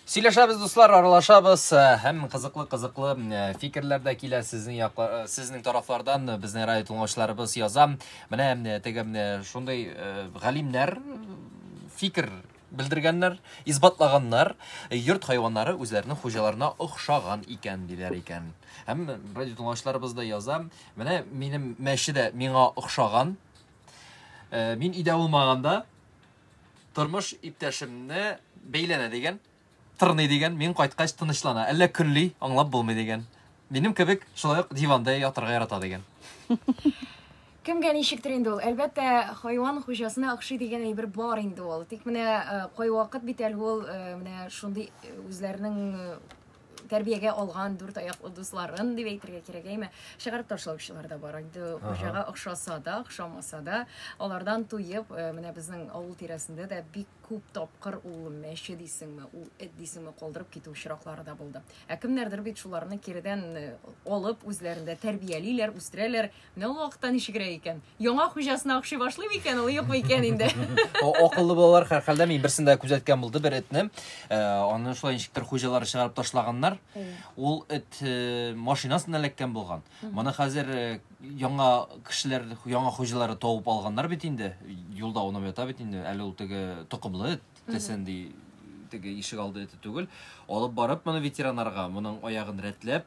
Сөйләшәбез, дуслар, аралашабыз һәм кызыклы-кызыклы фикерләр дә килә сезнең яклар, сезнең тарафлардан безнең радио тыңлаучыларыбыз яза. Менә теге шундый галимнәр фикер белдергәннәр, исбатлаганнар, йорт хайваннары үзләренең хуҗаларына охшаган икән диләр икән. Һәм радио тыңлаучыларыбыз да яза. Менә минем мәче дә миңа охшаган. Мин өйдә булмаганда Тормыш иптәшемне бәйләнә дигән, тырный дигән, мин кайткач тынычлана, әллә көнли, аңлап булмый дигән. Минем кебек шулай ук диванда ятырга ярата дигән. Кемгә ничектер инде ул. Әлбәттә, хайван хуҗасына охшый дигән әйбер бар инде ул. Тик менә э, кайвакыт бит әле ул э, менә шундый э, үзләренең тәрбиягә алган дүрт аяклы дусларын дип әйтергә кирәк әйме чыгарып ташлаучылар да бар инде хуҗага охшаса да охшамаса да алардан туеп э, менә безнең авыл тирәсендә дә бик күп тапкыр ул мәче дисеңме ул эт дисеңме калдырып китү очраклары да булды ә кемнәрдер бит шуларны киредән э, алып үзләрендә тәрбиялиләр үстерәләр Менә ул вакытта ничегрәк икән? Яңа хуҗасына охшый башлый микән ул, юкмы икән инде? Акыллы балалар һәрхәлдә мин берсен дә күзәткән булды бер этне. Э, аны шулай ничектер хуҗалары чыгарып ташлаганнар. Ул эт э, машинасына эләккән булган. Моны хәзер э, яңа кешеләр, яңа хуҗалары табып алганнар бит инде. Юлда уйнап ята бит инде. Әле ул теге токымлы эт дисен ди теге ишек алды эте түгел. Алып барып моны ветеринарга, моның аягын рәтләп,